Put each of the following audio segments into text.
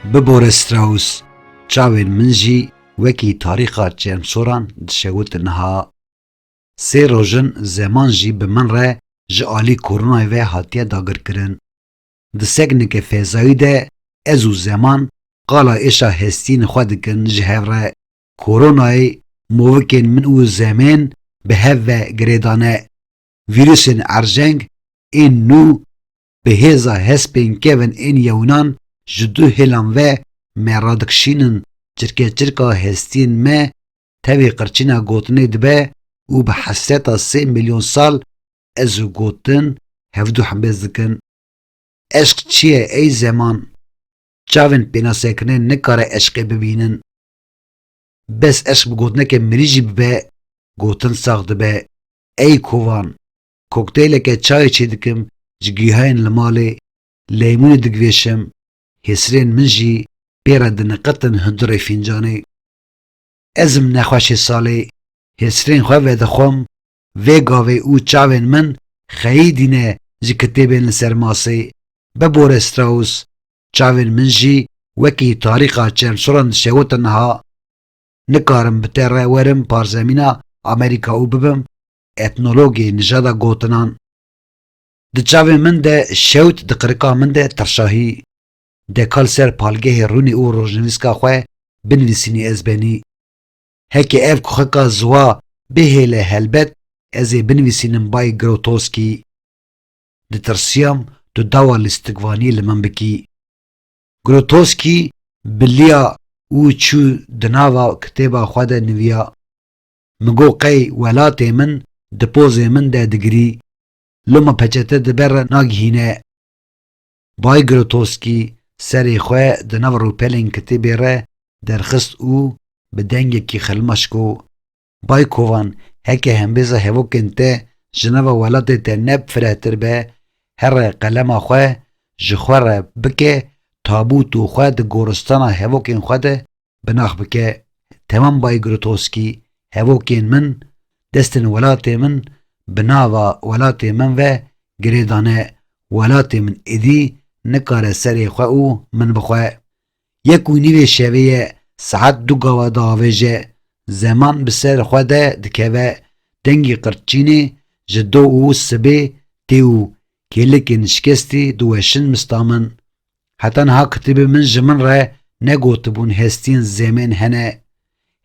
Bi Boris Strauss çavên min jî wekî tarîxa çemsoran dişewit niha sê rojin zeman jî bi min re ji alî koronayê ve hatiye dagirkirin. Di sekneke fezayî de ez û zeman qala êşa hestiyên xwe dikin ji hev re. Koronayê movikên min û zemên bi hev ve girêdane. Vîrusên erjeng ên nû bi hêza hespên kevin ên yewinan ji du hêlan ve me radikişînin çirkeçirka hestiyên me Tevî qirçîna gotinê dibe û bi hesreta sê milyon sal ez û gotin hevdu hembêz dikin. Eşq çi ye ey zeman? Çavên pênasekirinê nikare eşqê bibînin. Bes eşq bi gotineke mirî jî bibe gotin sax dibe. Ey kovan! Kokteyleke çayê çêdikim ji gihayên li malê, leymûnê digvêşim, hêsirên min jî pê re diniqirtin hundirê fîncanê. Ez im nexweşê salê, hêsirên xwe vedixwim, vê gavê û çavên min xeyî dîne ji kitêbên li ser masê, bibore Strauss, çavên min jî wekî tarîxa çermsoran dişewitin niha. Nikarim bi te re werim parzemîna Amerîka û bibim etnologê nijada gotinan. Di çavên min de şewt di qirika min de tirşahî. Dekal ser palgehê rûnî û rojnivîska xwe binivîsînî ez benî. Heke ev kuxika ziwa bihêle helbet ez ê binivîsînim bay Grotowski. Ditirsiyam tu dawa lîstikvaniyê li min bikî. Grotowski biliya û çû di nava kitêba xwe de niviya. Min got qey welatê min di pozê min de digirî. Loma peçete di ber re nagihîne. Bay Grotowski serê xwe di nav rûpelên kitêbê re derxist û bi dengekî xilmaş got, Bay Kovan, heke hembêza hevokên te ji nava welatê te ne firehtir be, here qelema xwe ji xwe re bike tabût û xwe di goristana hevokên xwe de bi nax bike Tevan Baygrutosky hevokên min destên welatê min bi nava welatê min ve girê dane welatê min êdî nikare serê xwe û min bi xwe yek û nîvê şevê ye saet du gawa diavêje zeman bi ser xwe de dikeve dengî qirtçînê ji do û sibê tê û kêlikên şikestî diweşin mista min Heta niha kitêbê min ji min re negotibûn hestiyên zemên hene,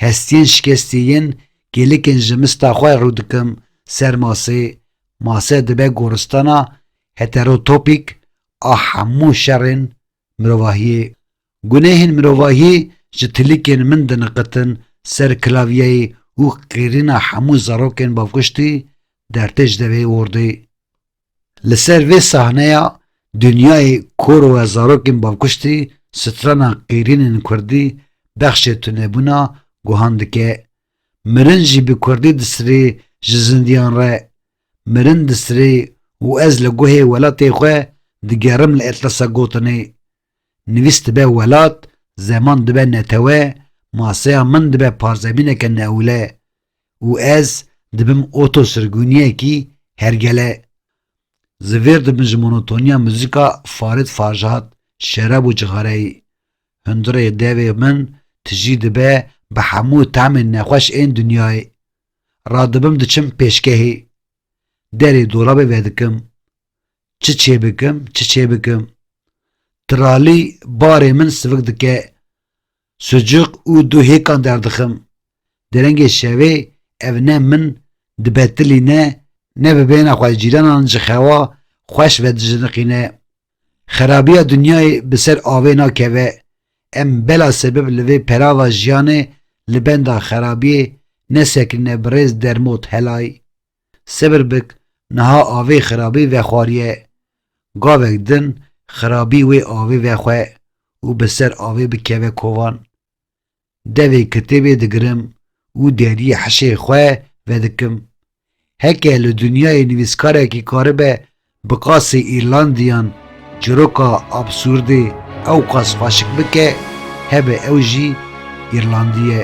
hestiyên şikestî yên kêlikên ji mista xwe rû dikim ser masê, mase dibe goristana heterotopîk a hemû şerên mirovahiyê. Gunehên mirovahiyê ji tilikên min diniqitin ser klavyeyê û qêrîna hemû zarokên bavkiştî dertê ji devê wordê. Li ser vê sahneya Dinyayê koro e zarokên bavkuştî strana qîrînên kurdî bexşê tunebûna guhan dike, mirin jî bi kurdî disirê ji zindiyan re, mirin disirê û ez li guhê welatê xwe digerim li Etlasa gotinê, Nivîs dibe welat, zeman dibe netewe, maseya min dibe parzemîneke neewle, û ez dibim oto sirgûniyekî hergele zivêr dibin ji monotoniya muzîka Farid Farjad, şerab û cixareyê. Hundirê devê min tijî dibe bi hemû temên nexweş ên dinyayê. Radibim diçim pêşgehê. Derê dolabê vedikim. Çi çêbikim, çi çêbikim. Tiralî barê min sivik dike. Sucuk û du hêkan derdixim. Derengê şevê ev ne min dibe tilî ne ne bi bêhna xwe cîranan ji xewa xweş vedijiniqîne. Xerabîya dinyayê bi ser avê nakeve. Em bela sebib li vê perava jiyanê li benda xerabîyê nesekinîne birêz dermot helay. Sebir bik niha avê xirabî vexwariye. Gavek din xirabî wê avê vexwe û bi ser avê bikeve kovan. Devê kitêbê digirim û deriyê hişê xwe vedikim. Heke li dinyayê nivîskarekî karibe Bi qasê Îrlandiyan çiroka absurdê ewqas xweşik bike hebe ew jî Îrlandî ye.